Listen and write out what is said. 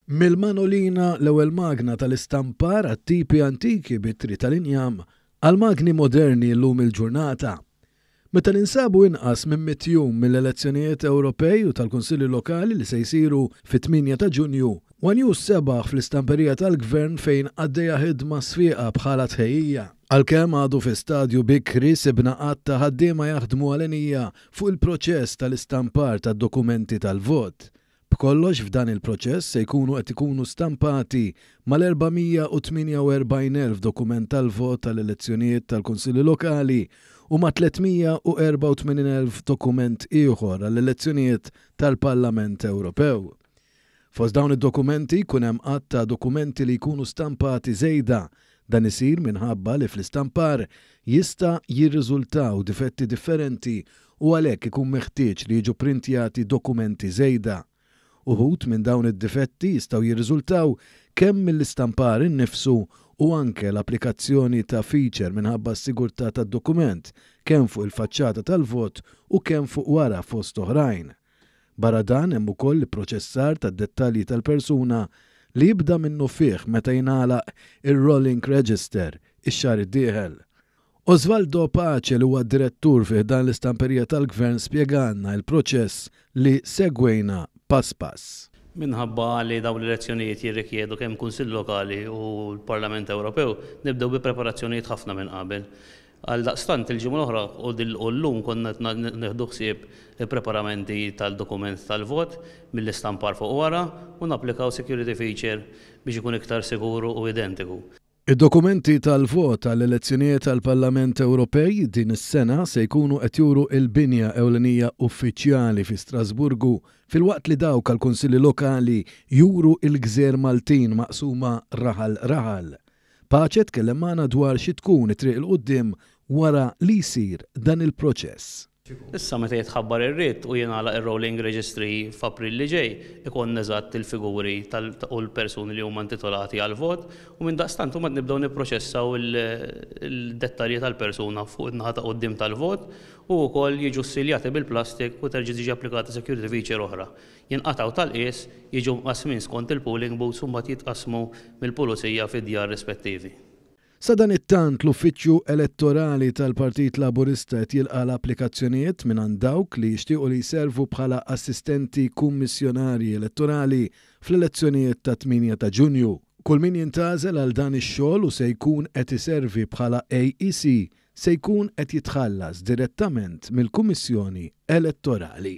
Mill-manolina, l-ewwel magna tal-istampar għat-tipi antiki b'ittri tal-injam, għall-magni moderni llum il-ġurnata. Meta ninsabu inqas minn mitt jum mill-elezzjonijiet Ewropej u tal-Kunsilli Lokali li se jsiru fit-tmienja ta' Ġunju, one News sebaħ fl-istamperija tal-Gvern fejn għaddejja ħidma sfieqa bħala tħejjija. Għalkemm għadu fi stadju bikri, sibna għadd ta' ħaddiema jaħdmu għal għenija fuq il-proċess tal-istampar tad-dokumenti tal-vot. B'kollox f'dan il-proċess se jkunu qed ikunu stampati mal-448 elf dokument tal-vot tal-elezzjonijiet tal-Kunsilli Lokali u ma' 384 elf dokument ieħor għall-elezzjonijiet tal-Parlament Ewropew. Fost dawn id-dokumenti jkun hemm għadd ta' dokumenti li jkunu stampati żejda Dan isir minħabba li fl-istampar jista' jirriżultaw difetti differenti u għalhekk ikun meħtieġ li jiġu pprintjati dokumenti żejda. Uħud minn dawn id-difetti jistgħu jirriżultaw kemm mill-istampar innifsu u anke l-applikazzjoni ta' feature minħabba s-sigurtà tad-dokument kemm fuq il-faċċata tal-vot u kemm fuq wara fost oħrajn. Barra dan hemm ukoll l-ipproċessar tad-dettalji tal-persuna li jibda minnufih meta jingħalaq ir-rolling register ix-xahar id-dieħel. Osvaldo Pace li huwa direttur fi ħdan l-istamperija tal-Gvern spjegalna il-proċess li segwejna pass pass. Minħabba li dawn l-elezzjonijiet jirrikjedu kemm Kunsill Lokali u l-Parlament Ewropew, nibdew bi preparazzjonijiet ħafna minn qabel. Għaldaqstant, il-ġimgħa l-oħra u llum konna qed nieħdu ħsieb il-preparamenti tal-dokument tal-vot mill-istampar fuq wara u napplikaw security feature biex ikun iktar sigur u identiku. Id-dokumenti tal-vot għall-elezzjonijiet għall-Parlament Ewropej din is-sena se jkunu qed juru l-binja ewlenija uffiċjali fi Strasburgu filwaqt li dawk għall-Kunsilli Lokali juru l-gżejjer Maltin maqsuma raħal raħal. Pace tkellem magħna dwar xi tkun it-triq 'il quddiem wara li jsir dan il-proċess. Issa meta jitħabbar ir-writ u jingħalaq ir-rolling registry f'April li ġej, ikollna eżatt il-figuri tal u l-persuni li huma intitolati għall-vot u mindaqstant imbagħad nibdew nipproċessaw il-dettalji tal-persuna fuq in-naħa ta' quddiem tal-vot u wkoll jiġu ssiljati bil-plastik u terġa' tiġi applikata security feature oħra. jinqatgħu tal-qies, jiġu mqassmin skont il-polling booths u mbagħad jitqassmu mill-pulizija fid-djar rispettivi. Sadanittant, l-Uffiċċju Elettorali tal-Partit Laburista qed jilqa' l-applikazzjonijiet mingħand dawk li jixtiequ li jservu bħala assistenti kummissjonarji elettorali fl-elezzjonijiet tat-tmienja ta' Ġunju. Kull min jintgħażel għal dan ix-xogħol u se jkun qed iservi bħala AEC se jkun qed jitħallas direttament mill-Kummissjoni Elettorali.